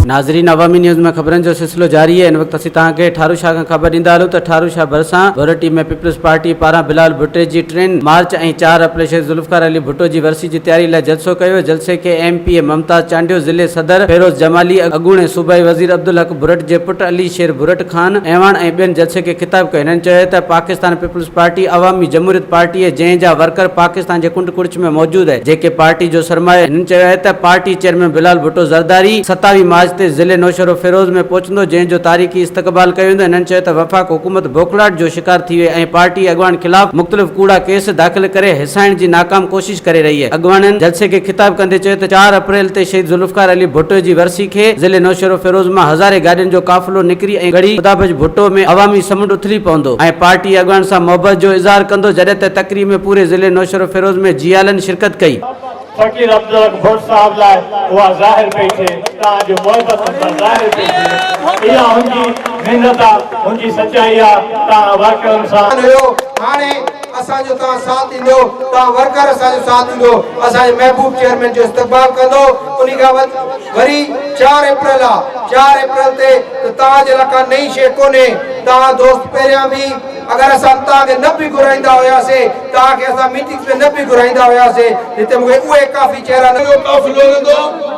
ناظرين عوامي نيوز ۾ خبرن جو سلسلو جاري آهي ان وقت اسين توهان کي ٺارو شاهه کان خبر ڏيندا هلون ته ٺارو شاهه ڀرسان ڀورٽي ۾ پيپلز پارٽي پاران بلال ڀٽي جي ٽين مارچ ۽ چار اپريل شيخ ذوالفقار علي ڀٽو جي ورسي جي تياري لاء جلسو ڪيو ويو جلسي کي M P A Mumtaz Chandio ضلعي صدر فيروز جمالي اڳوڻي صوبائي وزير عبدالحق ڀورٽ جي پٽ علي شير ڀورٽ خان اعواڻ ۽ ٻين جلسي کي خطاب ڪيو هنن چيو ته Pakistan peoples party Awami Jamhuriat party اهي جنهن جا ورڪر پاڪستان جي ڪنڊ ڪڙڇ ۾ موجود اهي جيڪي پارٽي جو سرمايو اهي هنن چيو اهي ته پارٽي چيئرمين بلال ڀٽو زرداري ستاويهه مارچ تي ضلعي نوشهرو فيروز ۾ پهچندو جنهن جو تاريخي استقبال ڪيو ويندو هنن چيو ته وفاق حڪومت بوکلاٽ جو شڪار ٿي وئي ۽ پارٽي اڳواڻ خلاف مختلف ڪوڙا ڪيس داخل ڪري هيسائڻ جي ناڪام ڪوشش پيش ڪري رهي اڳواڻن جلسي کي خطاب ڪندي چيو ته چار اپريل تي شهيد ذوالفقار علي ڀٽو جي ورسي کي ضلعي نوشهروفيروز مان هزارين گاڏين جو قافلو نڪري ۽ ڳڙهي خدابخش ڀٽو ۾ عوامي سمنڊ اٿلي پوندو ۽ پارٽي اڳواڻن سان محبت جو اظهار ڪندو جڏهن ته تقريب ۾ پوري ضلعي نوشهروفيروز ۾ جيالن شرڪت ڪئي. فقير عبدالحق ڀٽ صاحب لاء اها ظاهر پئي ٿئي تان جو محبت هن سان ظاهر پئي ٿئي اها هن جي محنت آ هن جي سچائي آ تان واقعا هن سان هاڻي اسان جو توهان ساٿ ڏيندو، توهان ورڪر اسان جو ساٿ ڏيندو، اسان جي محبوب چيئرمين جو استقبال ڪندو، انهي کان وڌ وري چار اپريل آ، چار اپريل تي ته توهان جي لاء ڪا نئين شيء ڪونهي، توهان دوست پهريان به اگر اسان توهان کي نه به گهرائيندا هياسي، توهان کي اسان ميٽنگز ۾ نه به گهرائيندا هياسي، هتي مون کي اهي ڪافي چهرا نظر. اهو ڪافي لوڙيندو.